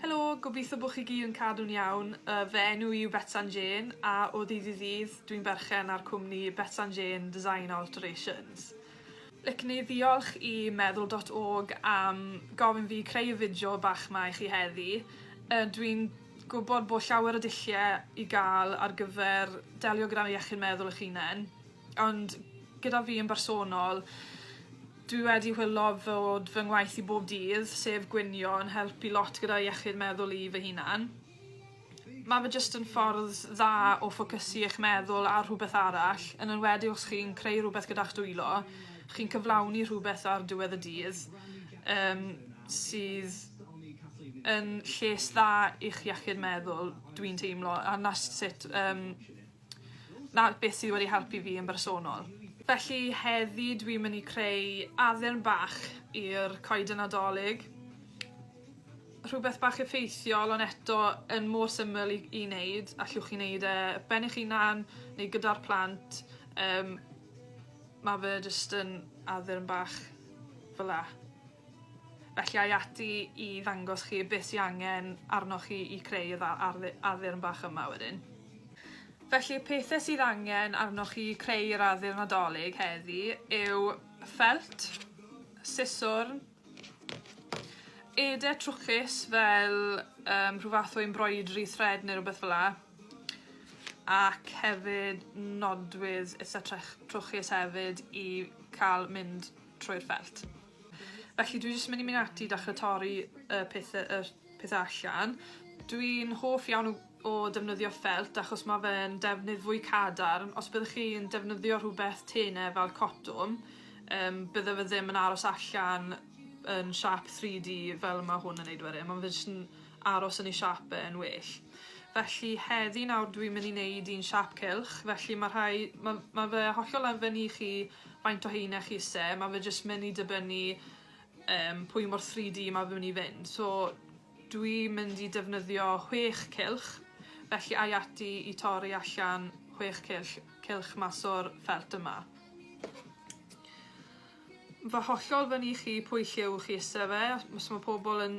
Helo, gobeithio bod chi gyd yn cadw'n iawn. Yy, fy enw i yw Betsan Jane a o ddydd i ddydd dwi'n berchen ar cwmni Betsan Jane Design Alterations. Licen i ddiolch i Meddwl dot org am gofyn fi creu y fideo bach 'ma i chi heddi. Yy, dwi'n gwybod bod llawer o dulliau i gael ar gyfer delio gyda iechyd meddwl eich hunen. Ond gyda fi yn bersonol dwi wedi chwilo fod fy ngwaith i bob dydd, sef gwnïo yn helpu lot gyda iechyd meddwl i fy hunan. Ma' fe jyst yn ffordd dda o ffocysu 'ych meddwl ar rhwbeth arall yn enwedig os chi'n creu rwbeth gyda'ch dwylo. Chi'n cyflawni rhwbeth ar diwedd y dydd yym sydd yn lles dda i'ch iechyd meddwl dwi'n teimlo a 'na s- sut yym 'na beth sydd wedi helpu fi yn bersonol. Felly heddi dwi myn' i creu addurn bach i'r Coeden Nadolig. Rhwbeth bach effeithiol on' eto yn mor syml i i neud, allwch chi neud e ben eich hunan neu gyda'r plant yym ma' fe jyst yn addurn bach fel 'a. Felly ai ati i ddangos chi beth sy angen arnoch chi i creu y ddau ardd- addurn bach yma wedyn. Felly y pethe sydd angen arnoch chi i creu yr addurn Nadolig heddi yw ffelt, siswrn, ede trwchus fel yym rhyw fath o embroidery thread ne' rwbeth fela, ac hefyd nodwydd itha trech- trwchus hefyd i ca'l mynd trwy'r felt. Felly dwi jyst myn' i myn' ati i dachre torri y pethe yr pethe allan. Dwi'n hoff iawn o o defnyddio ffelt achos ma' fe'n defnydd fwy cadarn. Os byddech chi'n defnyddio rhwbeth tene fel cotwm yym bydde fe ddim yn aros allan yn siâp thrî Dee fel ma' hwn yn neud wedyn ma' fe jys yn aros yn ei siâp fe yn well. Felly heddi nawr dwi myn' i neud un siâp cylch felly ma' rhai ma' ma' fe hollol ar ben i chi faint o heine chi isie ma' fe jyst myn' i dibynnu yym pwy mor three Dee ma' fe myn' i fynd so dwi mynd i defnyddio chwech cylch felly ai ati i torri allan chwech cyll- cylch mas o'r ffelt yma. Ma' hollol fyn' i chi pwy lliw chi isie fe os os ma' pobol yn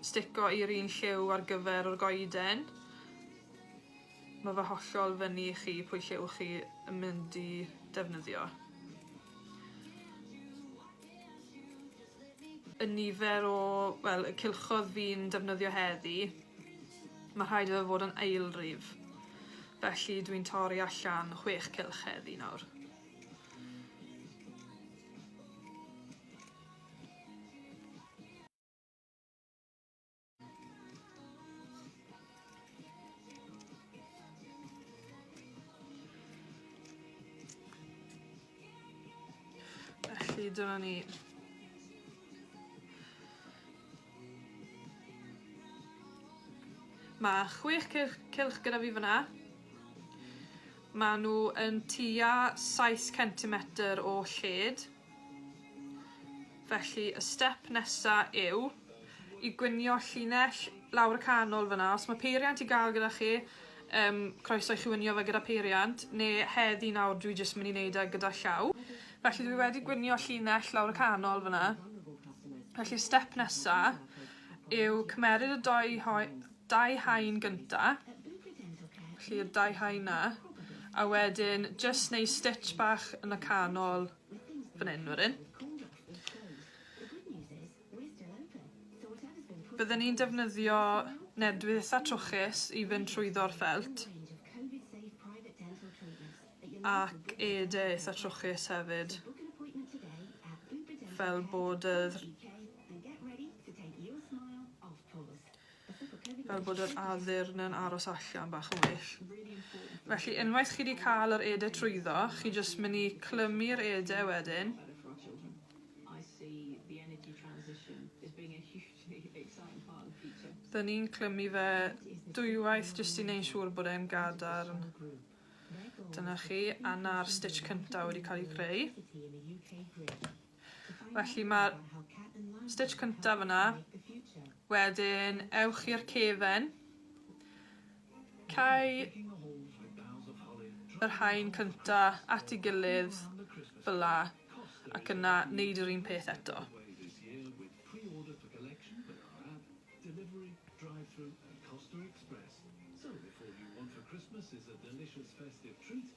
stico i'r un lliw ar gyfer yr goeden Mae fe hollol fyny i chi pwy lliw chi yn mynd i defnyddio. Y nifer o, wel, y cylchodd fi'n defnyddio heddi, mae rhaid iddo fod yn aelrif. Felly dwi'n torri allan chwech cylch heddi nawr. Felly dyna ni. Mae chwech cylch, cylch gyda fi fyna. Mae nhw yn tua 7 cm o lled. Felly y step nesa yw i gwinio llinell lawr y canol fyna. Os mae peiriant i gael gyda chi, um, croeso i chi winio fe gyda peiriant, neu heddi nawr dwi jyst mynd i wneud e gyda llaw. Felly dwi wedi gwinio llinell lawr y canol fyna. Felly step nesa yw cymeryd y doi dau haen gynta, felly'r dau haen na, a wedyn jyst neu stitch bach yn y canol fan hyn wedyn. Byddwn ni'n defnyddio nedwydd a trwchus i fynd trwyddo'r ffelt ac ede eitha trwchus hefyd fel bod yr fel bod yr addurn yn aros allan bach yn well. Felly unwaith chi wedi cael yr ede trwyddo, chi jyst mynd i clymu'r ede wedyn. Dyn ni'n clymu fe dwywaith jyst i wneud siŵr bod e'n gadarn. Dyna chi, a na'r stitch cyntaf wedi cael ei creu. Felly mae'r stitch cyntaf yna. Wedyn ewch i'r cefen. Cau yr haen cynta at ei gilydd fel la ac yna neud yr un peth eto.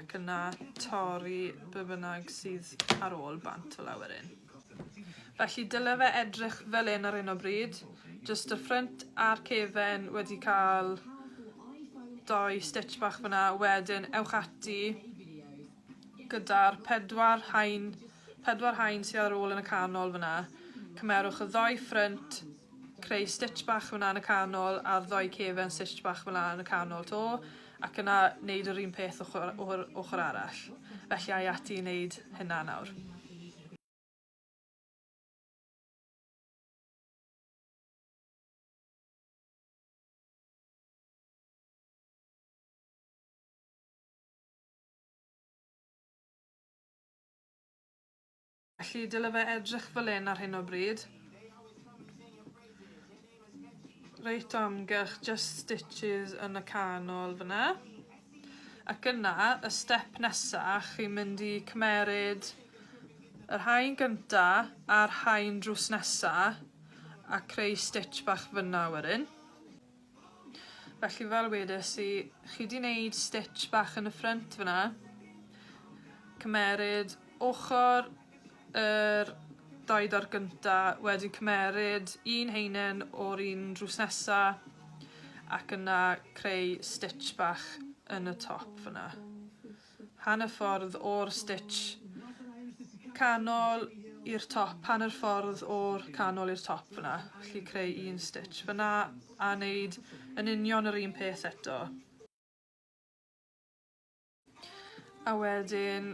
Ac yna torri be bynnag sydd ar ôl bant o lawer un. Felly dyle fe edrych fel un ar hyn o bryd. Just y ffrynt a'r cefen wedi cael doi stitch bach fyna. Wedyn ewch ati gyda'r pedwar hain, pedwar hain sydd ar ôl yn y canol fyna. Cymerwch y ddoi ffrynt creu stitch bach fyna yn y canol a'r ddoi cefen stitch bach fyna yn y canol to. ac yna neud yr un peth ochor o'r ochor arall. Felly ai ati i neud hynna nawr. Felly dyle fe edrych fel hyn ar hyn o bryd. Reit o amgylch, just stitches yn y canol fyna. Ac yna, y step nesa, chi'n mynd i cymeryd yr haen gynta a'r haen drws nesa a creu stitch bach fyna wedyn. Felly fel wedes i chi 'di neud stitch bach yn y ffrynt fan 'na. Cymeryd ochor yr dau dor gynta wedyn cymeryd un haenen o'r un drws nesa ac yna creu stitch bach yn y top fan 'na. Hanner ffordd o'r stitch canol i'r top, hanner ffordd o'r canol i'r top fyna, felly creu un stitch fyna a wneud yn union yr un peth eto. A wedyn,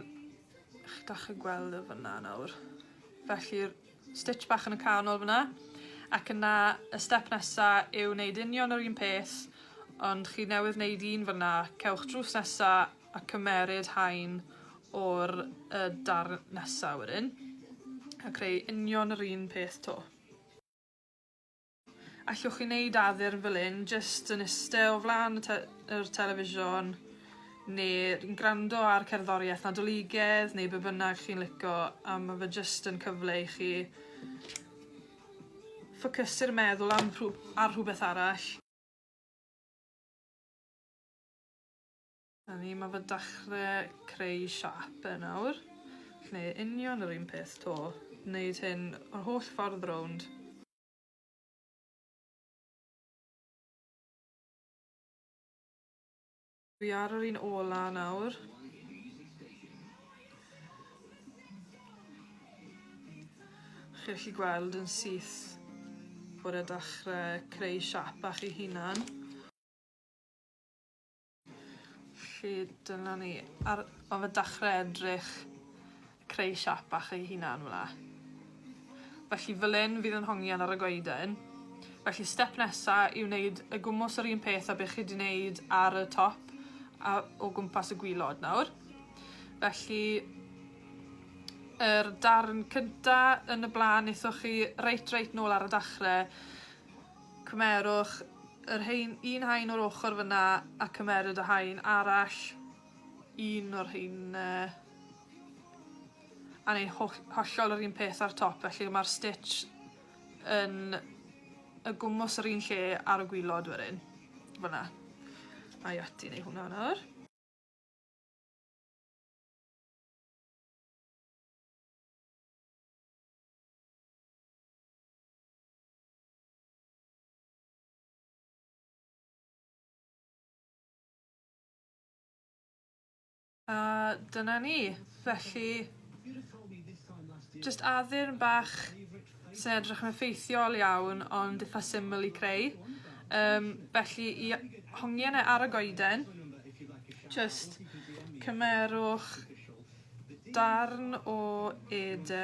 chi'n gallu gweld e fyna nawr, felly'r stitch bach yn y canol fyna ac yna y step nesa yw wneud union yr un peth ond chi newydd wneud un fyna cewch drws nesa a cymeryd haen o'r uh, darn nesa wedyn a creu union yr un peth to. Allwch chi neud addurn fel hyn jyst yn iste o flan y te- yr television ne' yn grando ar cerddorieth Nadoligedd neu be' bynnag chi'n lico a ma' fe jyst yn cyfle i chi ffocysu'r meddwl am rhw- ar rhwbeth arall. 'Na ni ma' fe dachre creu siâp e nawr. G'neud union yr un peth 'to. Neud hyn yr holl ffordd rownd. Dwi ar yr un ola nawr. Chi'n gallu gweld yn syth bod e dechrau creu siap bach ei hunan. Felly dyna ni ar ar y dechre edrych creu siâp bach ei hunan fel 'a. Felly fel 'yn fydd 'yn hongian ar y goeden. Felly step nesa yw neud y gwmws yr un peth a be' chi 'di neud ar y top a o gwmpas y gwilod nawr. Felly yr darn cynta yn y bla'n nethoch chi reit reit nôl ar y dachre Cymerwch yr haen, un haen o'r ochr fyna a cymeryd y haen arall, un o'r haene, a neud hollol yr un peth ar top, felly mae'r stitch yn y gwmws yr un lle ar y gwylod wedyn. Fyna. Mae ati neu hwnna nawr. A dyna ni. Felly jyst addurn bach sy'n edrych yn effeithiol iawn ond itha syml i creu. Yym felly i a- hongian e ar y goeden jyst cymerwch darn o ede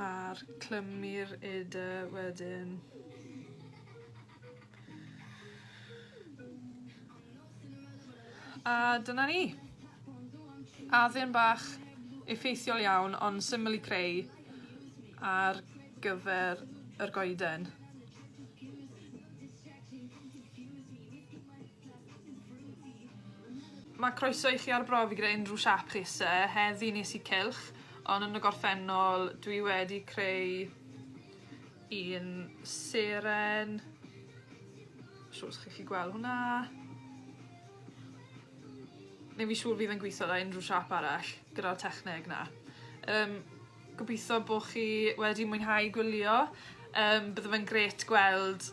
A'r clymu'r ede wedyn. A dyna ni. Addyn bach effeithiol iawn ond syml i creu ar gyfer yr goeden. Mae croeso i chi arbrofi gyda unrhyw siâp chi isie. Heddi nes i cylch ond yn y gorffennol dwi wedi creu un seren. Siŵr os chi'n 'llu gweld hwnna. Newn fi siŵr fydd e'n gwitho 'da unrhyw siâp arall gyda'r techneg 'na. Yym gobitho bo' chi wedi mwynhau gwylio yym bydde fe'n grêt gweld